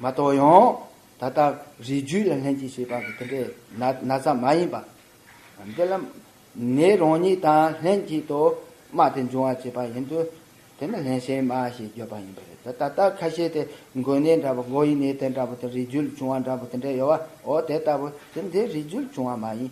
མ་གཏོགས་ཡང་ད་ལྟ་རིགས་རྒྱུད་ལ་ལྷན་ཅིག་བྱེད་པ་འདི་འདྲའི་ན་ཚ་མ་ཡིན་པ། འདི་ལ་ནི་རང་ཉིད་དང་ལྷན་ཅིག་ཏུ་སྨྲ་སྟེ་འབྱུང་བར་བྱེད་པ་ཡིན་དུས་དེ་ནི་ལྷན་ཞེན་སྨྲ་ཞེས་བརྗོད་པ་ཡིན་པས་རེད་ད་ལྟ་ཁ་ཤས་དེ་མགོན་ནད་འདྲ་བོ་མགོ་ཡི་ནད་དེ་འདྲ་བོ་དང་རིགས་རྒྱུད་ལ་བྱུང་བ་འདྲ་བོ་དེ་འདྲ་ཡོད་བ་འོ་དེ་ལྟ་བུ་དེ་འདི་རིགས་རྒྱུད་ལ་བྱུང་བ་མ་ཡིན།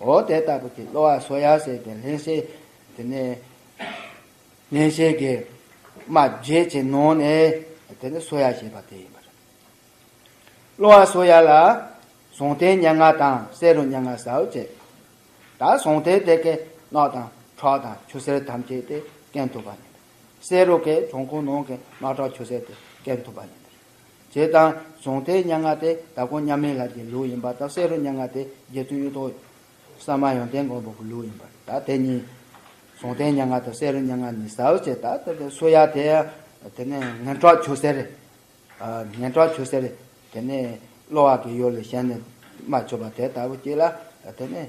འོ་དེ་ལྟ་བུ་དེ་གློ་བ་སོ་ཡ་བསྲེགས་པའི་ལྷན་སྐྱེས་དེ་ནི། ལྷན་སྐྱེས་ཀྱི་རྨ་བརྒྱད་ཀྱི་ནང་ནས་དེ་ནི་སོ་ཡ་ཞེས་པ་དེ་ཡིན་པར། གློ་བ་སོ་ཡ་ལ་ཟུངས་ཐལ་སྙན་ངག་དང་བསེ་རུ་སྙན་ངག་ཟའུ་བཅས་ད་ཟུངས་ཐལ་དེ་གའི་རྣག་དང་ཁྲག་དང་ཆུ་སེར་ཐམས་ཅད་དེ་སྐེམ་ཐུབ་པ་ཡིན་པར། བསེ་རུ་གའི་བྱུང་ཁུངས་ནང་གི་རྣག་ཁྲག་ཆུ་སེར་དེ་སྐེམ་ཐུབ་པ་ཡིན་པར། ཅེས་དང། གཟུང་མཐའི་སྙན་ངག་དེ་དྭགས་ཀུན་མཉམ་མེད་ལགས་ཀྱི་ལུགས་ཡིན་པ་དང་བསེ་རུ་སྙན་ངག་དེ་རྗེ་བཙུན་གཡུ་ཐོག་ས་མ་ཡོན་ཏན་མགོན་པོ་གི་ལུགས་ཡིན་པ་དང་དེ་གཉིས། གཟུང་མཐའི་སྙན་ངག་དང་བསེ་རུ་སྙན་ངག་གཉིས་ཟ་འོད་ཅེས་དང་དེ་སུ་ཡག་དེ། དེ་ནས་ངན་གྲགས་ཆུ་སེར། ངན་གྲགས་ཆུ་སེར། དེ་ནས་གློ་བ་གི་ཡོ་ལི་གཞན་ནས་མ་ཆོད་པ་དེ་ལྟ་བུ་གཅིག་ལ། དེ་ནས།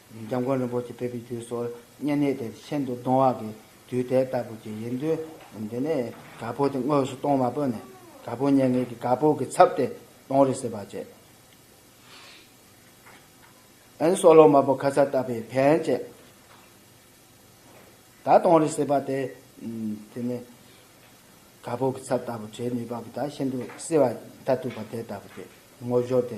འཇམ་མགོན་རིན་པོ་ཆེ་ཕེབས་པའི་དུས་སུ་བསྙེན་གནས་དེ་ཤིན་ཏུ་གདུང་བ་གི་དུས་དེ་ལྟ་བུ་ཅིག་ཡིན་དུས། འདི་ནས་གར་ཕོག་དེ་དངོས་སུ་གཏོང་བ་པོ་ནས་གར་ཕོག་བསྙེན་གནས་ཀྱི་གར་ཕོག་གི་ཚབ་དེ་གཏོང་རེ་ཟེར་བ་བཅས། ཨན་སོ་ལོ་མ་པོ་ཁ་ཚར་བཏབ་པའི་ཕན་བཅས་དག་གཏོང་རེ་ཟེར་བ་དེ། དེ་ནས་གར་ཕོག་གི་ཚབ་ལྟ་བུ་བྱེད་ནུས་པ་པོ་དག་ཤིན་ཏུ་བསིལ་བ་མཐར་ཐུག་པ་དེ་ལྟ་བུ་ཅིག་ངོ་བཞོག་དེ་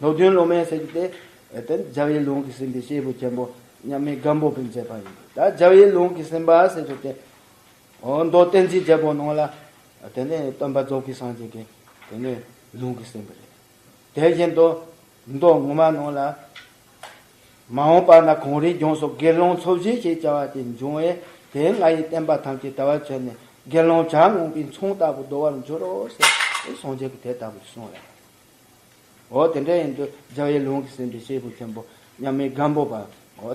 ལྷོ་བདུན་སློབ་མའི་སྲས་ཀྱི་སྟེ། དེ་ནི་ཇཱ་བའི་ལུང་གིས་ཟིན་པའི་སྐྱེས་བུ་ཆེན་པོ་མཉམ་མེད་སྒམ་པོ་པས་མཛད་པ་ཡིན། ད་ཇཱ་བའི་ལུང་གིས་ཟིན་པ་སྲས་སུ་སྟེ། འོ་མདོ་བསྟན་འཛིན་རྒྱལ་པོ་ནང་ལ། དེ་ནི་སྟོན་པ་རྫོགས་པའི་སངས་རྒྱས་ཀྱི། དེ་ནི་ལུང་གིས་ཟིན་པ་རེད། དེ་བཞིན་དུ། མདོ་ངོ་མ་ནང་ལ། མ་འོངས་པ་ན་གངས་རིའི་ལྗོངས་སུ་དགེ་སློང་ཚོགས་བཞི་ཞེས་བྱ་བ་དེ་འབྱུང་བས་དེས་ང་ཡི་བསྟན་པ་ཐམས་ཅད་དལ་བར་ཚོལ་ནས་དགེ་སློང་བྱ་རྔོག་པའི་མཚུངས་ལྟ་བུ་བདོ་བར་འགྱུར་རོ་ཞེས་སངས་རྒྱས་ཀྱིས་དེ་ལྟ་བུར་གསུངས་ལ། འོ་དེ་འདྲ་ཡིན་དུ་རྒྱལ་བའི་ལུང་གིས་ཟིན་པའི་སྐྱེས་བུ་ཆེན་པོ་མཉམ་མེད་སྒམ་པོ་པའོ།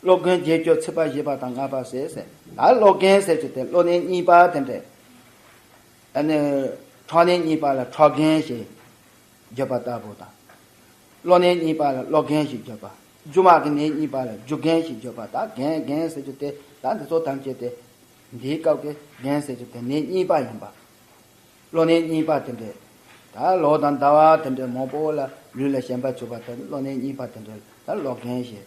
སློབ་དགོན་བརྒྱད་སྐྱོ་ཚིག་པ་བཞི་པ་དང་ལྔ་པ་ཟེར་ཟེར་ད་སློབ་དགོན་ཟེར་གྱི་དེ་སློབ་གནས་གཉིས་པ་དེ་འདྲས་ཨ་ནི་ཁྲོག་གནས་གཉིས་པ་ལ་ཁྲོག་རྒན་ཞེས་བརྗོད་པ་ལྟ་བུ་དང། སློབ་གནས་གཉིས་པ་ལ་སློབ་རྒན་ཞེས་བརྗོད་པ་རྒྱུ་དམག་གི་གནས་གཉིས་པ་ལ་རྒྱུ་རྒན་ཞེས་བརྗོད་པ་ད་རྒན་རྒན་ཟེར་གྱི་དེ་ད་འདི་ཚོ་ཐམས་ཅད་དེ་འདིའི་སྐབས་ཀྱི་རྒན་ཟེར་གྱི་དེ་གནས་གཉིས་པ་ཡིན་པ། སློབ་གནས་གཉིས་པ་དེ་འདྲས་ད་ལོ་དང་ཟླ་བ་དེ་འདྲས་མང་པོ་ལ་ལུས་ལ་ཞེན་པ་ཆུད་པ་དེ་སློབ་གནས་གཉིས་པ་དེ་འདྲས་ད་སློབ་རྒན་ཞེས་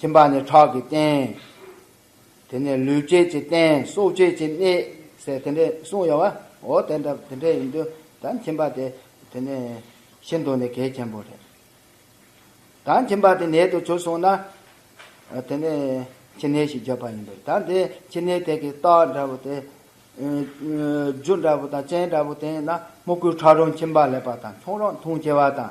ཁྱིམ་པ་ནི་ཁྲག་གི་རྟེན། དེ་ནས་ལུས་སྐྱེད་ཀྱི་རྟེན་སྲོག་སྐྱེད་ཀྱི་གནས། ཟེར་དེ་འདྲའི་གསུངས་ཡོད་བ། འོ་དེ་འདྲ་དེ་འདྲའི་ཡིན་དུས་ད་ཁྱིམ་པ་དེ་དེ་ནས་ཤི་འདུག་ནས་གལ་ཆེན་པོ་རེད། ད་ཁྱིམ་པ་དེ་ནད་དུ་གྱུར་སོང་ན། དེ་ནས་ཁྱི་ནད་ཞིག་རྒྱབ་པ་ཡིན་པས་ད་དེ་ཁྱི་ནད་དེ་གི་རྟགས་འདྲ་བོ་དེ། རྒྱུ་འདྲ་བོ་དང་རྐྱེན་འདྲ་བོ་དེ་ཡིན་ན་སྨུ་གུའི་ཁྲག་རུང་ཁྱིམ་པ་ལེགས་པ་དང་ཁྱུང་རང་འཐུང་སྐྱེ་བ་དང།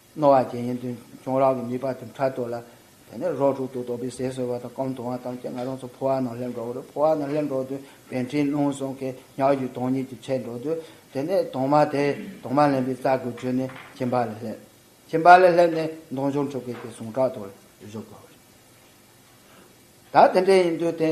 རྣོ་བ་བརྒྱད་ཡན་དུ་གྱོང་རག་གི་མི་ལྤགས་དེ་འཕྲལ་དོར་ལ། དེ་ནས་རོ་དྲུག་ཏུ་དོགས་པའི་ཟས་ཟོས་པ་དང་སྐོམ་དུ་བ་དང་བཅས་ང་རང་ཚོ་ཕོ་བ་རྣམས་སླེབས་འགྲོ་བར་ཕོ་བ་རྣམས་སླེབས་འགྲོ་དུས་བན་ཕྲེང་རླུང་སོང་ཁའི་ཉག་གཅིག་དོང་གཉིས་ཀྱིས་ཆད་འགྲོ་དུས་དེ་ནས་དོང་མ་དེ་དོང་མ་ལེན་པའི་རྩ་དགུ་བཅོས་ནས་ཁྱིམ་པ་ལ་སླེབས། ཁྱིམ་པ་ལ་སླེབས་ནས་མདོང་ཆུང་ཕྲུ་གུ་དེ་ཟུངས་ཁྲག་དོར་བཞུགས་པ་རེད། ད་དེ་འདྲས་ཡིན་དུས་དེ།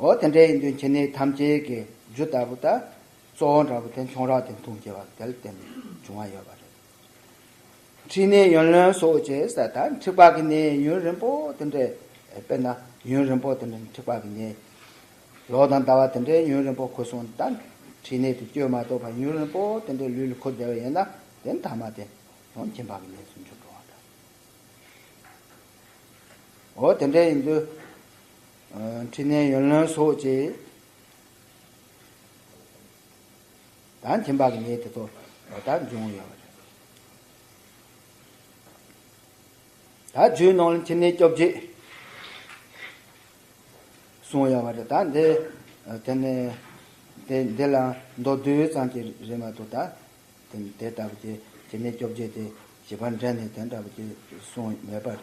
ཨོ་དེ་འདྲའི་འདུན་བྱེད་ནི་ཐམས་ཅད་ཀྱི་རྒྱུ་ལྟ་བུ་དང་གཙོ་བོ་འདྲ་བོ་དེ་མཚུངས་རགས་དེ་མཐུན་བྱེད་པ་དེ་ལ་བརྟེན་ནས་བྱུང་བ་ཡོད་པ་རེད། འཁྲིས་ནི་ཡོན་ལོན་སོགས་བྱེད་ཟེར་ད་འཁྲིག་པ་གི་ནི་ཡུན་རིང་པོ་དེ་འདྲའི་དཔེར་ན་ཡུན་རིང་པོ་དེ་འདྲའི་འཁྲིག་པ་གི་ནི་ལོ་དང་ཟླ་བ་དེ་འདྲའི་ཡུན་རིང་པོ་འཁོར་སོང་ད་འཁྲིས་ནི་དུ་སྐྱོད་མ་གཏོགས་པ་ཡུན་རིང་པོ་དེ་འདྲའི་ལུས་ལ་འཁོར་བདེ་བ་ཡིན་ན་དེ་མཐའ་མ་དེ་ཡང་མཁྱེན་པ་གི་ནི་ཟུང་འཇུག་འགྲོ་བ་འདྲ། ཨོ་དེ་འདྲའི་འདུན། ཕྲིན་ལས་ཡོན་བློན་སོགས་ཀྱིས། དང་ཁྱིམ་བདག་གི་ཉེས་དེ་ཚོ་ད་འབྱུང་ཡོད། ད་བརྒྱུད་ནང་ལ་ཁྱིམ་ནས་སྐྱོབ་རྗེས། གསུངས་ཡོད་པ་རེད་ད་འདི་དེ་ནས་དེ་འདི་ལ་མདོ་བསྡུས་ཙམ་གྱི་རེད་མ་གཏོགས་ད་དེ་དེ་ལྟ་བུ་དེ་ཁྱིམ་ནས་སྐྱོབ་རྗེས་དེ་བྱིས་པ་འདྲེན་ནས་དེ་འདྲ་བུ་དེ་གསུངས་མེད་པ་རེད།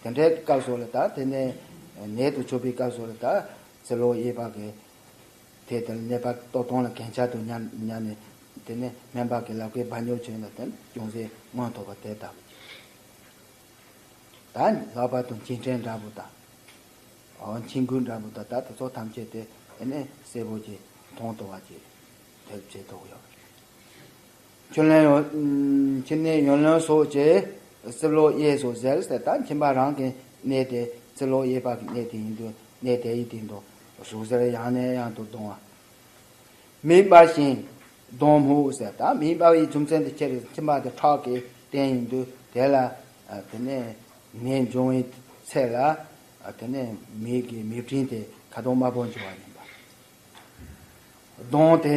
དེ་འདྲའི་སྐབས་སོགས་ལ་དག་དེ་ནས་ནད་དུ་ཆོད་པའི་སྐབས་སོགས་ལ་དག་ཚེ་ལོ་དབྱེ་བ་གི་དེ་དང་ནད་པ་ལྟོ་སྟོང་ལ་གན་ཆ་དུ་མྱ་མྱ་ནས་དེ་ནས་སྨན་པ་གི་ལག་པའི་སྦ་ཉོ་བྱོན་ལ་དེང་ཅུང་ཟད་སྔོན་ཐོག་པ་དེ་དག་དང་ལྷག་པར་དུ་མཁྱིན་ཕྲན་འདྲ་བོ་དང། མཁྱིན་ཀུན་འདྲ་བོ་དང་དག་དེ་ཚོ་ཐམས་ཅད་དེ་ནས་སེར་བོ་ཀྱི་མཐོང་ལྟོ་བ་ཀྱི་དེ་བྱེད་དོགས་ཡོད། ཁྱོད་ལན་ཡོད། ཁྱིམ་ནས་ཡོན་ལོན་སོགས་ཀྱིས་རྩིབ་ལོགས་གཡས་སུ་གཟེར་ཟེར་ད་ཁྱིམ་པ་རང་གི་གནས་དེ་རྩིབ་ལོགས་གཡས་པ་གི་གནས་དེ་ཡིན་དུས་གནས་དེ་ཡི་སྟེང་དུ་ཟུག་ཟེར་ཡང་ནས་ཡང་དུ་གདོང་བ། མིག་སྦར་ཞིང་གདོང་སྨུག་ཟེར་ད་མིག་སྦར་བའི་རྒྱུ་མཚན་དེ་ཁྱེད་ཀྱི་ཁྱིམ་པ་དེ་ཁྲག་གི་རྟེན་ཡིན་དུས་དེ་ལ་དེ་ནས་ནད་འབྱུང་བའི་ཚེ་ལ་དེ་ནས་མིག་གི་མིག་སྤྲིན་དེ་ཁ་དོག་དམར་པོ་འབྱུང་བ་ཡིན་པ། གདོང་དེ་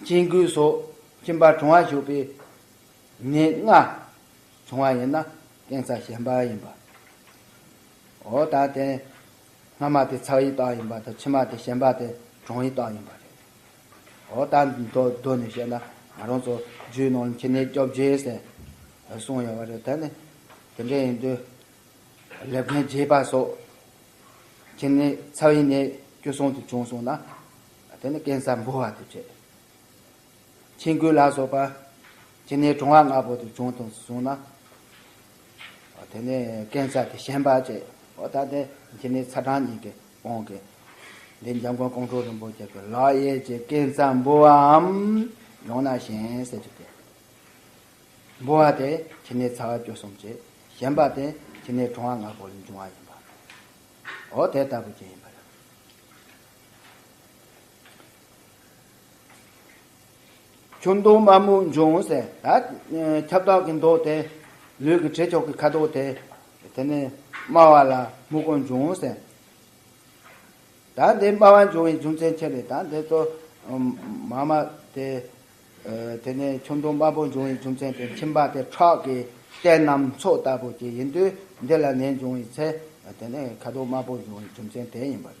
སྐྱེ་དགུའི་སྲོག་སྐྱིན་པ་གྲང་བ་ཞུགས་པའི་ནད་ལྔ་བྱུང་བ་ཡིན་ན་གཏན་ཚ་ཞན་པ་ཡིན་པའོ། ད་དེ་སྔ་མ་དེ་ཚགས་ཡི་དྭགས་ཡིན་པ་དང་ཕྱི་མ་དེ་ཞན་པ་དེ་གྲང་ཡི་དྭགས་ཡིན་པ་རེད། ཨོ་ད་གདོད་ནས་བཤད་ན་ང་རང་ཚོ་རྒྱུད་ནང་ལ་ཁྱི་ནད་སྐྱོབ་རྗེས་ཟེར་ནས་གསུངས་ཡོད་པ་རེད་ད་ནི་དེ་འདྲ་ཡིན་དུས་ལེབ་མཁན་རྒྱས་པ་སོགས་ཁྱི་ནད་ཚགས་ཡི་ནད་སྐྱོ་སོང་དུ་བྱུང་སོང་ན། དེ་ནི་ཀན་སར་འབུལ་བ་དུ་བྱས། ཆིང་ཀུའུ་ལ་སོགས་པ་ཇི་ནས་གྲོང་བ་ལྔ་པོ་དུ་བྱུང་དང་གསུངས་ན། དེ་ནི་ཀན་སར་དེ་ཞེན་པ་བྱས། ད་ལྟའི་ཇི་ནས་ཚ་གྲང་གཉིས་ཀྱི་དབང་གིས། འདིར་འཇམ་མགོན་ཀོང་སྤྲུལ་རིན་པོ་ཆེ་གི་ལག་གཡས་ཀྱི་ཀན་སར་འབུལ་བའམ། ཡང་ན་གཞན་སེལ་གྱི་སྟེ། འབུལ་བ་དེ་ཇི་ནས་ཚ་བ་བཅུ་གསུམ་བྱས། ཞེན་པ་དེ་ཇི་ནས་གྲོང་བ་ལྔ་པོ་ལས་འབྱུང་བ་ཡིན་པའོ། དེ་ལྟ་བུ་ཅན་ཡིན་པར། ཁྱོད་མདོག་དམར་མོ་འབྱུང་ངོ་ཟེར། ཁྱབ་བདག་གི་མདོག་དེ། ལུས་ཀྱི་བྲེ་ཁྱོག་གི་ཁ་དོག་དེ། དེ་ནི་དམའ་བ་ལ་སྨུག་པོ་འབྱུང་ངོ་ཟེར། ད་འདི་དམའ་བ་འབྱུང་བའི་རྒྱུ་མཚན་ཁྱེད་ལས་ད་འདི་ཚོ་མ་དམའ་སྟེ། དེ་ནི་ཁྱོད་མདོག་དམར་པོ་འབྱུང་བའི་རྒྱུ་མཚན་དེ་ཁྱིམ་པ་དེ་ཁྲག་གི་རྟེན་ནམ་མཚོག་ལྟ་བུ་དེ་ཡིན་དུས་འདི་ལ་ནད་འབྱུང་བའི་ཚེ་དེ་ནི་ཁ་དོག་དམར་པོ་འབྱུང་བའི་རྒྱུ་མཚན་དེ་ཡིན་པ་རེད།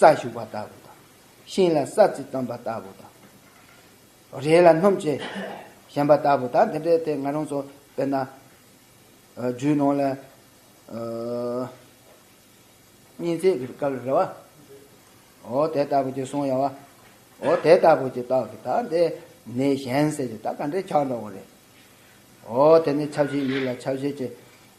རྩྭ་བྱུགས་པ་ལྟ་བུ་དང། ཤིང་ལ་ས་རྩི་བཏོན་པ་ལྟ་བུ་དང། རས་ལ་སྣུམ་ཆེ་བཞེངས་པ་ལྟ་བུ་དང་འདི་འདྲའི་དེ་ང་རང་ཚོ་དཔེར་ན། རྒྱུད་ནང་ལ། སྙིང་བརྩེ་གི་སྐབས་རེད་བ། འོ་དེ་ལྟ་བུ་ཅིག་གསུང་ཡོང་བ། འོ་དེ་ལྟ་བུ་ཅིག་རྟོགས་ཀྱི་ད་དེ་ནས་གཞན་ཟེར་གྱི་ད་ག་འདྲའི་ཆགས་འགྲོ་བ་རེད། འོ་དེ་ནས་ཆབ་སྲིད་ཡིག་ལ་ཆབ་སྲིད་ཀྱི།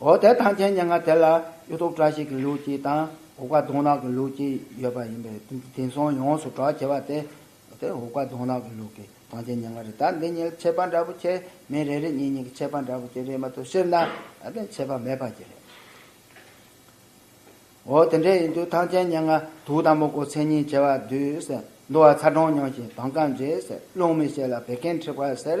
འོ་དེ་ཐང་ཆེན་སྙན་ངག་དེ་ལ་གཡུ་ཐོག་བཀྲ་ཤིས་ཀྱི་ལུགས་ཀྱིས་དང་འུག་པ་གདོང་ནག་གི་ལུགས་ཀྱིས་ཡོད་པ་ཡིན་པས་དེང་སང་ཡོངས་སུ་གྲགས་ཆེ་བ་དེ། དེ་འུག་པ་གདོང་ནག་གི་ལུགས་ཀྱི་ཐང་ཆེན་སྙན་ངག་རེད་ད་འདི་གཉིས་ཁྱད་པར་འདྲ་པོ་ཁྱེད་མི་རེ་རེ་གཉིས་གཉིས་ཀྱི་ཁྱད་པར་འདྲ་པོ་ཅི་རེད་མ་ཐུབ་ཟེར་ན་དེ་ཁྱད་པར་མེད་པ་ཅི་རེད། འོ་དེ་འདྲ་ཡིན་དུས་ཐང་ཆེན་སྙན་ངག་དུག་དང་མུག་གོ་མཚན་ཉིད་བྱེ་བ་བསྡུས་ཟེར་འདུག་བ་ཚ་གྲང་མྱོང་ཞིང་དྭངས་སྐམ་རྗེས་ཟེར་རླུང་མི་ཤེས་ལ་བད་ཀན་མཁྲིས་པ་ཟེར།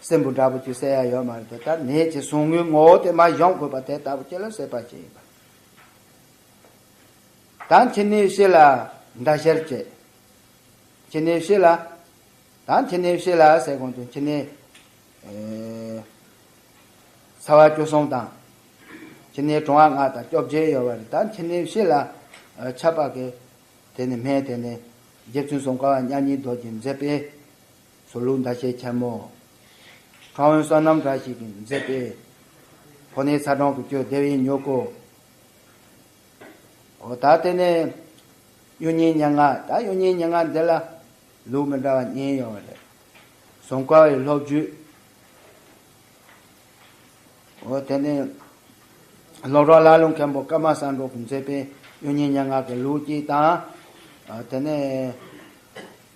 སྲིན་བུ་འདྲ་བོ་ཆུ་སེར་ཡ་ཡོད་མ་རེད་དེ་ལྟར་ནད་ཀྱི་ཟུག་རྔུའི་ངོ་བོ་དེ་མ་སྦྱོང་དགོས་པ་དེ་ལྟ་བུ་ཁྱེད་ལ་སྲེད་པ་ཅི་ཡིན་པ། དང་ཁྱེད་ནུས་ཤེས་ལ་འདྲ་བཤེར་བྱས། ཁྱེད་ནུས་ཤེས་ལ། དང་ཁྱེད་ནུས་ཤེས་ལ་ཟེར་གོང་དུ་ཁྱེད་ནི། ཚ་བ་བཅུ་གསུམ་དང། ཁྱེད་ནི་གྲང་བ་ལྔ་དང་བཅོ་བརྒྱད་ཡོད་བ་རེད་དང་ཁྱེད་ནུས་ཤེས་ལ། ཆ་པ་གི། དེ་ནི་སྨན་དེ་ནི། རྗེ་བཙུན་གསུམ་ཀ་བ་མཉམ་ཉིད་རྡོ་རྗེ་མཛེས་པས། ཟོ་ལུག་མདའ་ཆས་འཁྱམ་མོ། ཁྲ་བོན་བསོད་ནམས་འདྲ་ཞིག་གིས་མཛེས་པའི། ཕོ་ནི་ཚ་གྲང་དུ་སྐྱོ་བདེ་བའི་མྱུ་གུ། ད་ལྟ་ནི་གཡུ་སྙིང་སྙན་ངག་ད་གཡུ་སྙིང་སྙན་ངག་འདི་ལ། ལུག་མི་འདྲ་བ་གཉིས་ཡོང་བ་རེད། ཟོང་དཀར་བའི་སློབ་བརྒྱུད། དེ་ནི་སློབ་གྲོགས་ཀླ་ཀློ་མཁན་པོ་ཀརྨ་བསམ་འགྲུབ་གིས་མཛེས་པའི་གཡུ་སྙིང་སྙན་ངག་གི་ལུགས་གཅིག་དང། དེ་ནི།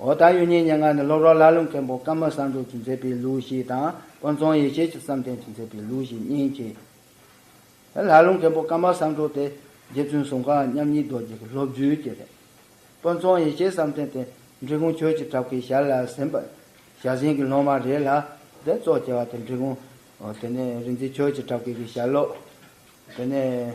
འོ་ད་ཡུལ་ཉེ་སྙེ་ང་ནི་སློབ་རོགས་ལྷ་ཀླུ་མཁན་པོ་ཀརྨ་བསམ་གྲུབ་ཀྱིས་མཛད་པའི་ལུགས་བཞི་དང་དཀོན་མཚུངས་ཡེ་ཤེས་ཀྱི་བསམ་གཏན་གྱིས་མཛད་པའི་ལུགས་བཞི་གཉིས་མཁྱེན། ལྷ་ཀླུ་མཁན་པོ་ཀརྨ་བསམ་གྲུབ་དེ་རྗེ་བཙུན་གསུམ་ག་མཉམ་ཉིད་རྡོ་རྗེ་གི་སློབ་བརྒྱུད་ཀྱི་རེད། དཀོན་མཚུངས་ཡེ་ཤེས་བསམ་གཏན་དེ་འབྲི་གུང་ཆོས་ཀྱི་གྲགས་པའི་ཞར་ལ་ཟིན་པ་ཞར་ཟིན་གྱི་སློབ་མ་རེད་ལ་དེ་གཙོ་བྱས་པ་དེ་འབྲི་གུང་དེ་ནས་རིག་འཛིན་ཆོས་ཀྱི་གྲགས་པའི་གི་ཞར་ལོག་དེ་ནས།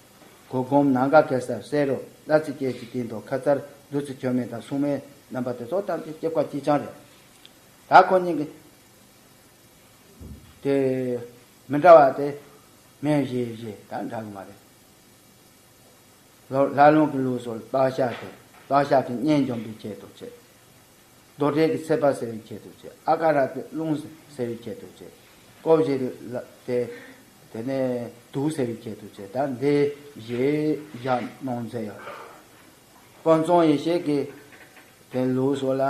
གོ་སྒོམ་ནང་དགའ་ཁེ་སར་བསེ་རུ་བླ་རྩི་སྐྱེས་ཀྱི་སྟེང་དུ་ཁ་མཚར་བདུད་རྩི་ཁྱོད་མེད་དང་སྲུང་མའི་རྣམ་པ་དེ་ཚོ་བཏང་སྟེ་སྐྱེ་བཀའ་སྐྱིད་ཆང་རེད། ད་ཁོ་གཉིས་ཀྱི་དེ་མི་འདྲ་བ་དེ་མེ་བཞི་བཞི་དང་འདྲ་གི་མ་རེད། ལྷ་ལུང་གི་ལུགས་སྲོལ་སྤགས་ཤ་དེ་སྤགས་ཤ་གི་གཉེན་འཇོམས་པའི་ཆེད་དུ་བྱེད། རྡོར་བྲལ་གྱི་ཚེ་དཔག་ཟེར་བའི་ཁྱད་དུ་བྱས། ཨ་ཀ་ར་ཏེ་རླུང་ཟེར་བའི་ཁྱད་དུ་བྱས། ཀོ་བཞི་ཏེ་དེ་ནས་དུག་ཟེར་བའི་ཁྱད་དུ་བྱས། ད་འདི་བཞི་བཞག་གནོང་མཛད་ཡོད་དོ། དཀོན་རྫོང་ཡེ་ཤེས་ཀྱི་དེ་ལུགས་སོགས་ལ།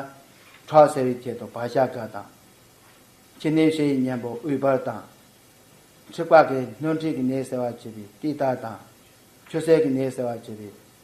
ཁྲག་ཟེར་བའི་ཁྱད་དུ་བག་ཞགས་དཀར་དང། ཕྱི་ནད་བཤལ་ཡི་གཉེན་པོ་དབུལ་འབར་དང། མཁྲིས་པ་གི་སྣོད་མཁྲིས་ཀྱི་ནད་སེལ་བར་བྱེད་པའི་ཏིལ་ཏར་དང། ཆུ་སེར་གྱི་ནད་སེལ་བར་བྱེད་པའི་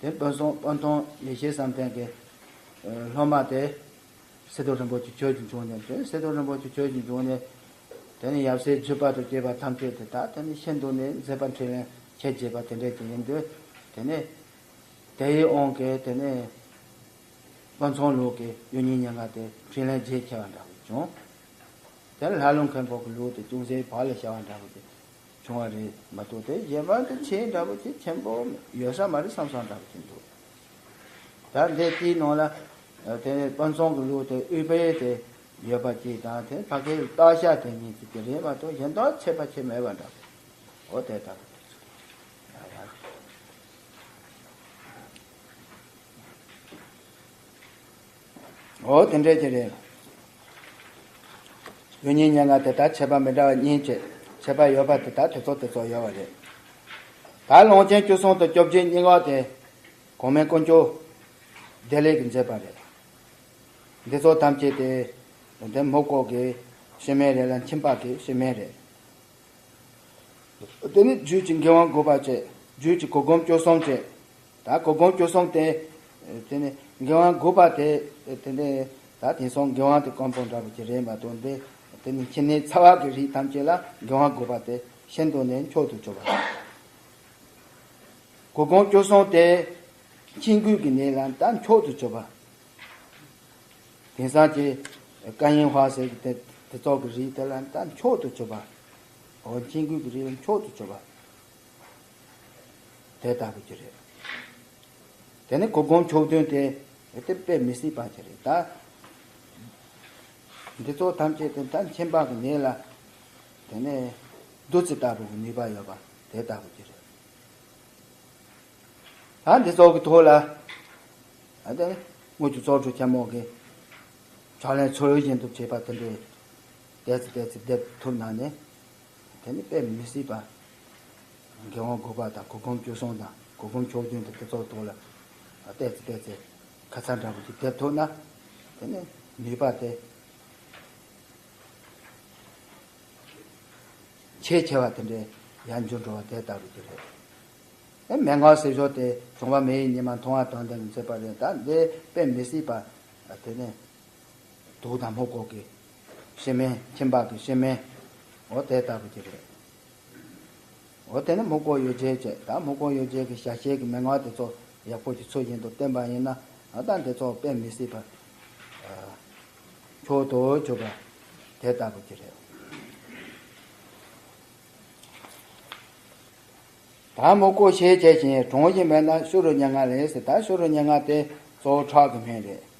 དེ་དཔོན་གསུང་དཔོན་ཐུང་ཡེ་ཤེས་བསམ་གཏན་གྱི་སློབ་མ་དེ། སེ་སྟོན་རིན་པོ་ཆེ་ཁྱོད་ཀྱིས་འབྱུང་ནས་དེ་སེ་སྟོན་རིན་པོ་ཆེ་ཁྱོད་ཀྱིས་འབྱུང་ནས། དེ་ནི་ཡབ་སྲས་བརྒྱུད་པ་དུ་སྐྱེས་པ་ཐམས་ཅད་དེ་དག་དེ་ནི་ཤིན་ཏུ་ནས་མཛེས་པ་འཕྲུལ་བའི་ཁྱད་བྱེད་པ་དེ་འདྲའི་དེ་ཡིན་དུས་དེ་ནི། དེ་ཡི་དབང་གིས་དེ་ནི། དཔོན་ཚང་ལུགས་ཀྱི་གཡུ་སྙིང་སྙན་ངག་དེ་འཕྲིན་ལས་རྗེས་ཁྱེར་བ་འདྲ་བོ་བྱུང། དེར་ལྷ་ཀླུ་མཁན་པོ་གི་ལུགས་དེ་ཅུང་ཟད་བག་ལས་ཤ་བ་འདྲ་བོ་དེ། བྱུང་བ་རེད་མ་གཏོགས་དེའི་རྗེས་དཔག་ཏུ་ཆེས་འདྲ་པོ་ཆེས་ཆེན་པོ་ཡོད་ས་མ་རེད་བསམ་བསམ་འདྲ་པོ་ཆེ་འདུག་ད་དེ་དེའི་ནང་ལ་དེ་དཔོན་ཚོང་གི་ལུགས་དེ་དབུས་པའི་དེ་ཡོད་པ་གཅིག་དང་དེ་ཕ་གིའི་སྟག་ཤ་དེ་གཉིས་ཀྱི་དེ་རེད་མ་གཏོགས་གཞན་དག་ཆེས་པ་ཆེས་མེད་པ་འདྲ་པོ་དེ་ལྟ་བུ་དེ་ཚོ་ཡོད་པ་རེད། འོ་དེ་འདྲས་ཀྱི་རེད། ཡུལ་གཉིས་སྙན་ངག་དེ་དག་ཆད་པ་མི་འདྲ་བ་གཉིས་བཅས་ཆད་པ་ཡོད་པ་དེ་དག་དེ་ཚོ་དེ་ཚོ་ཡོད་བ་རེད། ད་ལོངས་ཆེན་བཅུ་གསུམ་དང་བཅོ་བརྒྱད་སྙན་ངག་དེ་གོང་མའི་དཀོན་མཆོག་བདེ་ལེགས་ཀྱིས་མཛད་པ་རེད། འདི་ཚོ་ཐམས་ཅད་དེ་དང་དེ་མུག་ལྐོག་གི་ཤི་མན་རེད་ལ་མཆིན་ལྤགས་ཀྱི་ཤི་མན་རེད། འོ་དེ་ནི་རྒྱུད་ཀྱི་འགན་དབང་དགུ་པ་བཅས་རྒྱུད་ཀྱི་གོ་སྒོམ་བཅུ་གསུམ་བཅས། ད་གོ་བགོང་སྐྱོ་སོང་སྟེ། དེ་ནས་འགན་དབང་དགུ་པ་དེ། དེ་ནས་ད་དེང་སང་འགན་དབང་དེ་སྐམ་པོ་འདྲ་བོ་ཅི་རེད་མ་གཏོགས་འདི། དེ་ནས་ཁྱེད་ནས་ཚ་བ་གི་རིགས་ཐམས་ཅད་ལ་འགན་དབང་དགུ་པ་དེ་ཤེན་ཏུ་ནས་མཆོག་ཏུ་གྱུར་པ་དང། གོ་བགོང་སྐྱོ་སོང་སྟེ། ཁྱེད་མགུལ་གི་ནས་ལ་ད་མཆོག་ཏུ་གྱུར་པ། དེང་སང་ཀྱེ། ཀ་ཡེན་བྷ་ཟེར་གི་དེ་ཚོགས་གི་རིགས་དེ་ལ་ད་མཆོག་ཏུ་གྱུར་པ། འོ་ཁྱེད་མགུལ་གི་རིགས་ལ་མཆོག་ཏུ་གྱུར་པ། དེ་ལྟ་བུ་ཅི་རེད། དེ་ནི་གོ་བསྒོམ་ཕྱོགས་མཐུན་ཏེ། དེ་དཔེ་མི་སྲིད་པ་ཅི་རེད་ད། འདི་ཚོ་ཐམས་ཅད་དེ་ལྟར་མཁྱེན་པ་གི་ཉིད་ལ། དེ་ནས་བདུད་རྩི་ལྟ་བུ་གི་ནུས་པ་ཡོད་པ་དེ་ལྟ་བུ་ཅི་རེད། ད་འདི་ཚོགས་ཀྱི་ཐུགས་ལ། དངོས་ཀྱི་ཚོགས་དྲུག་ཆེན་མོ་གི། ཕྱག་ལེན་ཚུལ་བཞིན་དུ་བྱེད་པ་དེ་འདྲའི། བཟླས་ཚེ་བཟླས་ཚེ་བཟླས་ཐུབ་ན་ནི། དེ་ནི་དཔེ་མི་སྲིད་པ། དགེ་བ་དགུ་པ་དང་གོ་བུམ་བཅུ་གསུམ་དང་གོ་བུམ་ཕྱོགས་བདུན་དུ་དེ་ཚོགས་དོགས་ལ། བལྟས་ཚེ་བལྟས་ཚེ་ཁ་ཚར་འདྲ་བོ་ཞིག་འདེབས་ཐུབ་ན། དེ་ནི་ནུས་པ་སྟེ། ཆེས་ཆེ་བ་དེ་འདྲའི་ཡར་འགྱུར་འགྲོ་བ་དེ་ལྟ་བུ་དེ་རེད། དེ་མན་ངག་སྲིད་ཞོར་དེ་བྱུང་བ་མེ་ཡི་ཉི་མ་མཐོང་བ་དང་དེ་མི་ཚེ་པ་རེད་ད་འདི་དཔེ་མི་སྲིད་པ། དེ་ནི་དུག་དང་མོ་ཀོག་གི། ཤེས་མིན། ཁྱིམ་བག་གི་ཤེས་མིན། འོ་དེ་ལྟ་བུ་ཅིག་རེད། འོ་དེ་ནི་མུ་ཀོ་ཡོ་བྱད་ཅེས་ད་མུ་ཀོ་ཡོ་བྱད་ཀྱི་ཞྭ་ཤེལ་གྱི་མན་ངག་དེ་ཚོ་ཡག་པོ་ཞིག་ཚུལ་བཞིན་དུ་བསྟན་པ་ཡིན་ན་ད་ལྟ་འདི་ཚོ་དཔེ་མི་སྲིད་པར་འཁྱོག་ཏུ་གྱུར་པ་དེ་ལྟ་བུ་ཅིག་རེད། ད་མུ་ཀོ་ཤེས་བྱེད་བཞིན་གྲོང་བཞིན་པས་ན་ཤུ་རུ་སྙན་ངག་རེད་ཟེར་ད་ཤུ་རུ་སྙན་ངག་དེ་གཙོ་བོ་ཁྲག་གི་སྨན་རེད།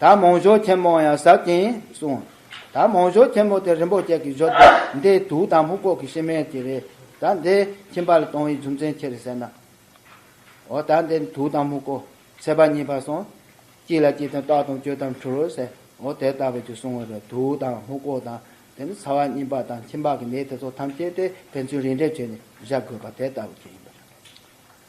ད་མོང་ཞོ་ཆེན་མོ་ཡང་ཟབ་ཅིང་གསུང། ད་མོང་ཞོ་ཆེན་མོ་དེ་རིན་པོ་ཆེ་གི་ཞོ་སྟེ་འདི་དུག་དང་སྨུག་པོ་གི་ཤི་རྨས་ཀྱི་རེད་ད་འདི་ཁྱིམ་པ་ལ་གཏོང་བའི་རྒྱུ་མཚན་ཁྱེར་ཟེར་ན། འོ་ད་འདི་དུག་དང་སྨུག་པོ་ཚད་པ་གཉིས་པ་གསུང། གཅིག་ལ་གཅིག་དང་རྟགས་དང་གཅོད་དམ་འཁྲུལ་རོ་ཟེར་འོ་དེ་ལྟ་བུ་དེ་གསུང་བའི་རེད་དུག་དང་སྨུག་པོ་དང་དེ་ནི་ཚ་བ་སྙིམ་པ་དང་ཁྱིམ་པ་གི་ནད་དེ་ཚོ་ཐམས་ཅད་དེ་ཕན་ཚུན་རིན་བྲལ་བྱས་ནས་བཞག་དགོས་པ་དེ་ལྟ་བུ་ཁྱེད་ཡིན་པ་རེད།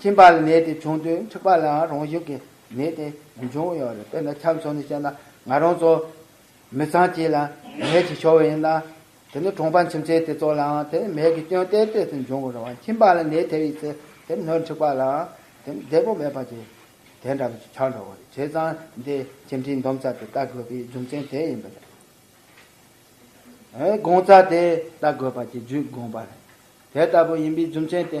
ཁྱིམ་པ་ལ་ནད་དེ་བྱུང་དུས་འཁྲིག་པ་ལའང་རང་བཞིན་གྱིས་ནད་དེ་མི་འབྱུང་ཡང་རེད་དཔེར་ན་ཆ་མཚོན་ནས་བཤད་ན་ང་རང་ཚོ་མི་ཚང་གཅིག་ལ་ནད་ཅིག་ཤོར་བ་ཡིན་ན། དེ་ནི་གྲོང་པ་མཆིམས་ཆེན་དེ་ཚོ་ལའང་དེ་མེད་ཀྱི་སྐྱོན་གཏན་གཏན་དུ་འབྱུང་གི་རེད་བ་ཁྱིམ་པ་ལ་ནད་ཐེབས་ཡོད་ཚེ་དེ་སྣོད་འཁྲིག་པ་ལའང་དེ་བདེ་པོ་མེད་པ་ཅི་དེ་འདྲ་བ་ཅིག་ཆགས་འགྲོ་གི་རེད་བྱས་ཙང་འདི་ཁྱིམ་འཁྲིག་འདོམས་ས་དེ་ལྟ་དགོས་པའི་རྒྱུ་མཚན་དེ་ཡིན་པ་རེད། དགོངས་ཚ་དེ་ལྟ་དགོས་པ་ཅིག་བརྒྱུད་དགོངས་པ་རེད་དེ་ལྟ་བུ་ཡིན་པའི་རྒྱུ་མཚན་དེ།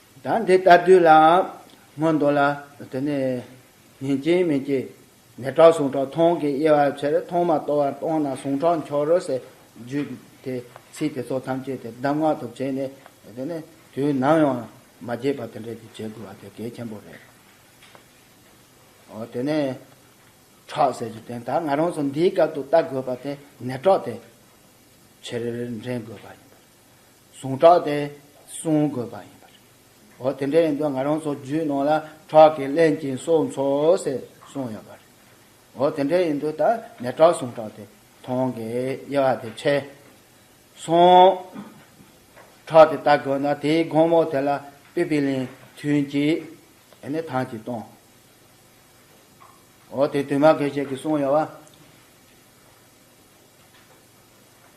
དང་དེ་ལྟར་དུས་ལའང་སྔོན་འདོད་ལ། དེ་ནས་ཉིན་གཅིག་མི་སྐྱེ། ནས་བྲག་ཟུང་ཁྲག་འཐུང་གི་དབྱེ་བ་ཕྱིར་མཐོང་མ་གཏོགས་བར་སྟོང་ན་ཟུང་ཁྲག་འཁྱོག་རོ་ཞེས་བརྗོད་དེ་ཚིག་དེ་ཚོ་ཐམས་ཅད་དེ་གདམས་ངག་ཏུ་བྱས་ནས། དེ་ནས་དུས་ནམ་ཡང་མ་བརྗེད་པ་དེ་འདྲ་ཞིག་བྱེད་དགོས་པ་དེ་གལ་ཆེན་པོ་རེད། དེ་ནས་ཁྲག་ཟེར་གྱི་དོན་དག་ང་རང་ཚོ་འདིའི་སྐབས་ཏུ་བལྟ་དགོས་པ་དེ་ནས་ཁྲག་དེ་ཕྱིར་འདྲེན་དགོས་པ་ཡིན། ཟུངས་ཁྲག་དེ་བསྲུང་དགོས་པ་ཡིན་པ་རེད། འོ་དེ་འདྲ་ཡིན་དུས་ང་རང་ཚོ་རྒྱུད་ནང་ལ་ཁྲག་གིས་བརླན་ཅིང་སྲོག་འཚོ་ཟེར་གསུངས་ཡོད་པ་རེད། འོ་དེ་འདྲ་ཡིན་དུས་ད་ནས་ཁྲག་ཟུངས་ཁྲག་དེ་ཐོངས་དགོས་དབྱེ་བ་དེ་ཕྱེ་སོང། ཁྲག་དེ་ལྟ་དགོས་ན་དེའི་དགོང་མོ་དེ་ལ་པི་པི་ལིན་ཐུན་གྱིས་དེ་ནས་ཐང་གིས་གཏོང། འོ་དེ་དུས་མ་དགེ་བཤེས་ཀྱིས་གསུངས་ཡོད་པ།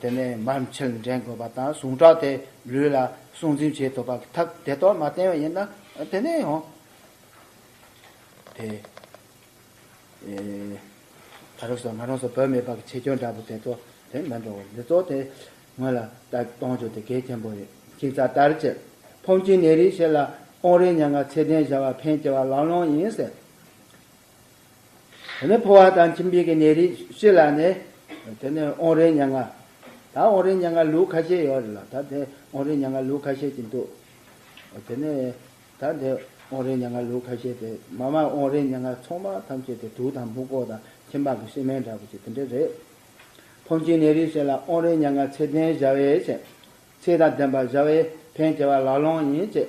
དེ་ནས་མར་མཆོད་འགྲེང་དགོས་པ་དང་ཟུངས་ཁྲག་དེ་ལུས་ལ་སྲུང་འཛིན་བྱེད་ཐུབ་པ་ཐབས་དེ་གཏོར་མ་བསྟན་བ་ཡིན་ན་དེ་ནས་ཡང་དེ་ད་རུང་སོ་ང་རང་སོ་བོད་མི་པག་ཆེ་ཁྱོད་འདྲ་བོ་དེ་ཚོ་དེ་མི་འགྲོ་བ་འདི་ཚོ་དེ་ངོས་ལ་ལྟ་གཏོང་རྒྱུ་དེ་གལ་ཆེན་པོ་རེད་ཁྱིམ་ཚ་དར་ཅིག་ཕོམ་ཁྱིམ་ནད་རིགས་ཤེས་ལ་ཨོང་རིགས་ཉག་ང་ཚེ་ལྡན་བྱ་བ་ཕན་སྐྱེ་བ་ལང་ལོང་ཡིན་ཟེར། དེ་ནས་ཕོ་བ་དང་ཁྱིམ་སྤེལ་གྱི་ནད་རིགས་སྤྱི་ལ་ནི། དེ་ནི་ཨོང་རའི་ཉལ་ང། ད་ཨོང་རའི་ཉལ་ང་ལུགས་ཁ་ཤས་ཡོད་རེད་ལ་ད་དེ་ཨོང་རའི་ཉལ་ང་ལུགས་ཁ་ཤས་ཀྱི་འདུག། དེ་ནས། ད་དེ་ཨོང་རའི་ཉལ་ང་ལུགས་ཁ་ཤས་དེ་མ་མ་ཨོང་རའི་ཉལ་ང་ཚོང་པ་ཐམས་ཅད་དེ་དུག་དང་སྨུག་པོ་དང་ཁྱིམ་པགས་ཀྱི་སྲིན་སྨན་འདྲ་པོ་ཅིག་དེ་འདྲ་རེད། ཕོ་མཆིན་ནད་རིགས་སྤྱི་ལ་ཨོང་རའི་ཉལ་ང་ཚེ་ལྡན་བཞའ་བས་བྱེད། ཚེ་དང་ལྡན་པ་བཞའ་བས་ཕན་སྐྱེ་བ་ལ་ལོངས་ཡིན་ཅེས